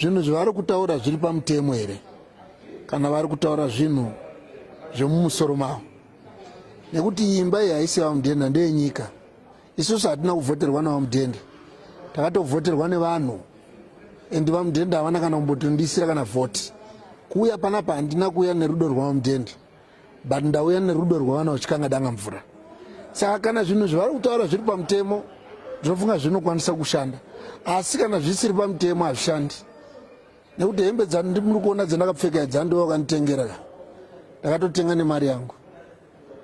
zvinhu zvavari kutaura zviri pamutemo here kana vari kutaura zvinhu zvemumusoro mavo nekuti imba iyi haisi vamudhenda ndeyenyika isusu hatina kuvhoterwa navamudhenda takatovhoterwa nevanhu and vamudhenda havana kana kumbotondisira kana vhoti kuuya panapa handina kuuya nerudo rwamudhenda but ndauya nerudo rwevana uchikanga danga mvura saka kana zvinhu zvavari kutaura zviri pamutemo ndinofunga zvinokwanisa kushanda asi kana zvisiri pamutemo hazvishandi nekuti hembe dzandimuri kuona dzandakapfeka dzandiwa vakanditengera ka ndakatotenga nemari yangu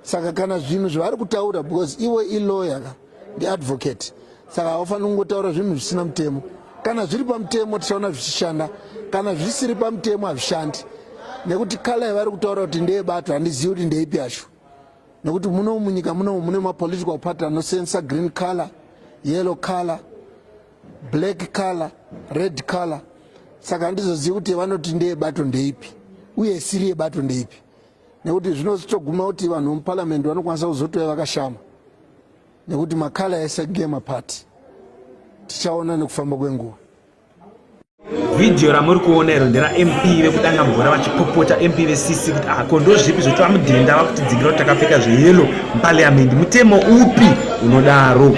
saka kana zvinhu zvavari kutaura because iwe iloya ka ndiadvocate saka haufaniri kungotaura zvinhu zvisina mutemo kana zviri pamutemo tichaona zvichishanda kana zvisiri pamutemo hazvishandi nekuti kala yavari kutaura kuti ndeyebato handizivi kuti ndeipi yacho nekuti muno munyika muno mune mapolitical party anosensa green color yellow color black color red color saka handizozivi kuti vanoti ndeyebato ndeipi uye isiri yebato ndeipi nekuti zvinozotoguma kuti vanhu vemuparliament vanokwanisa kuzotouya vakashama nekuti makala ese gema party tichaona nekufamba kwenguva vhidhiyo ramuri kuona iro ndera mp vekudanga mvura vachipopota mp vesisi kuti ah, ko ndozvipi zvekuti vamudhenda vakutidzingira kuti takapfeka zveyelo muparliament mutemo upi unodaro